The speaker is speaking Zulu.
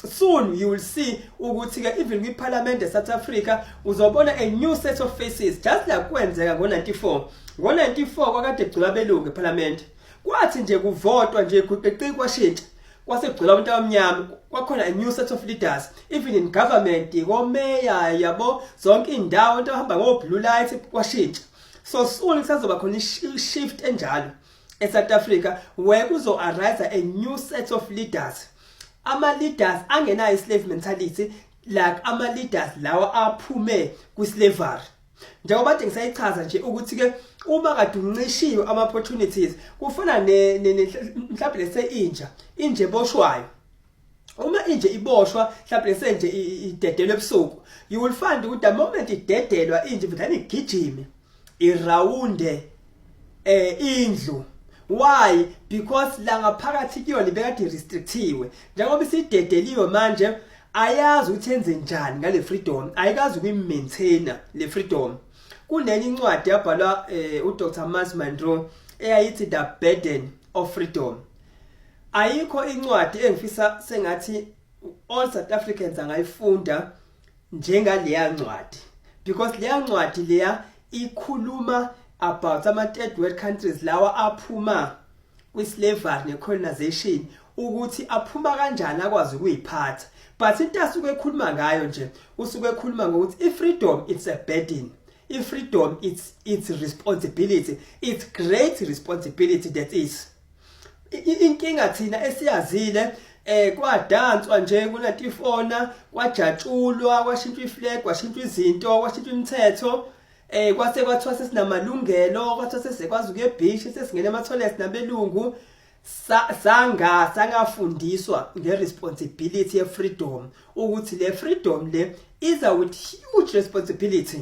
soon you will see ukuthi ke even kwi parliament e South Africa uzobona a new set of faces just like kwenzeka ngo 94 ngo 94 kwakade gcula belungu e parliament kwathi nje kuvotwa nje kuqeqi kwashintsha kwasegcula abantu abamnyama kwakhona a new set of leaders even in government komeya yabo zonke indawo abantu abahamba ngo blue light kwashintsha so soon kusazoba khona shift enjalo e South Africa where kuzo arise a new set of leaders ama leaders angenayo slave mentality like ama leaders lawa aphume kwi slavery njengoba nje ngisayichaza nje ukuthi ke uma kade uncishiwe ama opportunities kufana ne mhlawumbe lese inja inje boshwayo uma inje iboshwa mhlawumbe lese nje idedelwe ebusuku you will find ukuthi the moment idedelwa inje vele igijime irawunde eh indlu why because la ngaphakathi kuyona ibekade restrictiwe njengoba isidedeliwe manje ayazi ukuthi enze njani ngale freedom ayikazi ukuyimaintainer le freedom kunenye incwadi yabhalwa eh, uDr Mars Monroe eyayithi the burden of freedom ayikho incwadi engifisa sengathi all South Africans angayifunda njengaleya ncwadi because leya ncwadi leya ikhuluma about ama third world countries lawa aphuma kwi slavery ne colonization ukuthi aphuma kanjani akwazi ukuyiphatha but into asuke ekhuluma ngayo nje usuke ekhuluma ngokuthi i freedom it's a burden i freedom it's it's responsibility it's great responsibility that is inkinga thina esiyazile eh kwadanswa nje kunatifona kwajatshulwa kwashintshwa iflag kwashintshwa izinto kwashintshwa imithetho eh kwase kwathiwa sesinamalungelo kwathiwa sesekwazi ukuye beach sesingena ematholes nabelungu sanga sangafundiswa ngeresponsibility ye freedom ukuthi le freedom le iza with huge responsibility